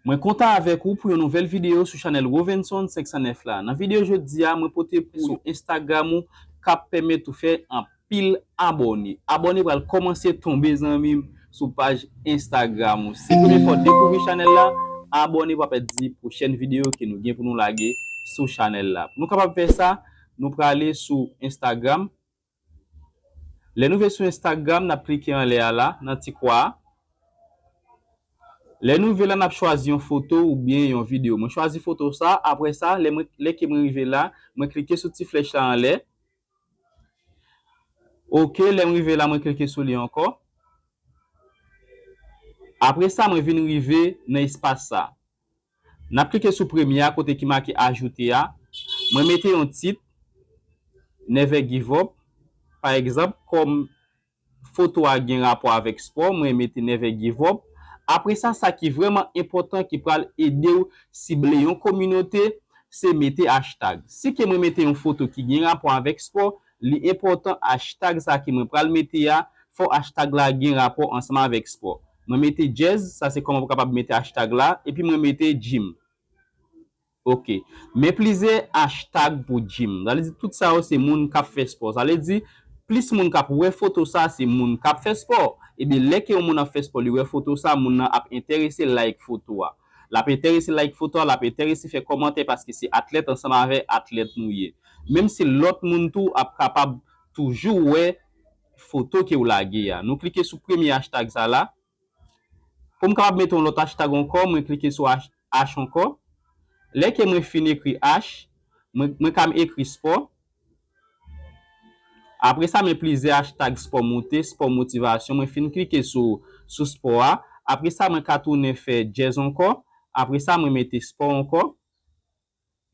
Mwen kontan avèk ou pou yon nouvèl video sou chanèl Rovenson 509 la. Nan video jodi a mwen pote pou sou Instagram ou kap pèmèt ou fè anpil abòne. Abòne pral kòmanse tonbe zanmim sou paj Instagram ou. Si premye fwa ou dekouvri chanèl la, abòne pou apa di pwochèn video ke nou gen pou nou lage sou chanèl la. Pou nou kapab fè sa, nou prale sou Instagram. Lè nou ve sou Instagram nap klike anlè a la nan ti kwa a. Lè nou ve la nap chwazi yon foto ou byen yon video. Mwen chwazi foto sa apre sa lè mwen lè ke mwen rive la mwen klike sou ti flèch la anlè. Ok lèm rive la mwen klike sou li ankò. Apre sa mwen vin rive nan espas sa. N ap klike sou premye a kote ki make Ajoute a. Mwen mete yon tit, Never Give Up. Pa egzanp, kòm foto a gen rapò avèk spò, mwen mete Never Give Up. Apre sa, sa ki vrèman enpòtan ki pral ede w sible yon kominote, se mete achtag. Si ke mwen mete yon foto ki gen rapò avèk spò, li enpòtan achtag sa ki mwen pral mete a, fò achtag la gen rapò ansanm avèk spò. Mwen mete djèz, sa se kòman pou kapab mete hashtag la, epi mwen mete Jim. Ok. Men plizyè hashtag pou Jim. Sa vle di tout sa yo se moun k ap fè spò. Sa vle di, plis moun k ap wè foto sa se moun k ap fè spò. Ebyen, lè ke yon moun ap fè spò, li wè foto sa, moun nan ap enterese like foto a. L ap enterese like foto a, l ap enterese fè kòmantè paske se atlèt ansanm avè atlèt nou ye. Menm si lòt moun tou ap kapab toujou wè foto kew lage a. Nou klike sou premye hashtag sa la. Poum kapab mete yon lòt hashtag ankò mwen klike sou hash ankò. Lè ke mwen fin ekri hash, mwen ka ekri sport. Apre sa men plizyè hashtag sport moute, sport motivation. Mwen fin klike sou sport a. Apre sa mwen ka tounen fè jazz ankò. Apre sa mwen mete sport ankò.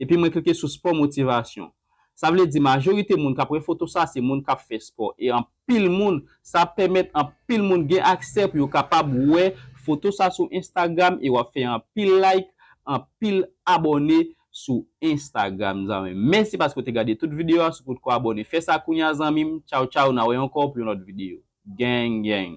Epi mwen klike sou spò motivasyon. Sa vle di majorite moun kap wè foto sa se moun kap fè spò e anpil moun sa ap pèmèt anpil moun gen aksè pou yo kapab wè foto sa sou Instagram e wap fè anpil like anpil abòne sou Instagram zanmim mèsi paske ou te gade tout video a si w potko abòne fè sa kounya zanmim tchaw tchaw na wè ankò pou yon lòt video gang gang.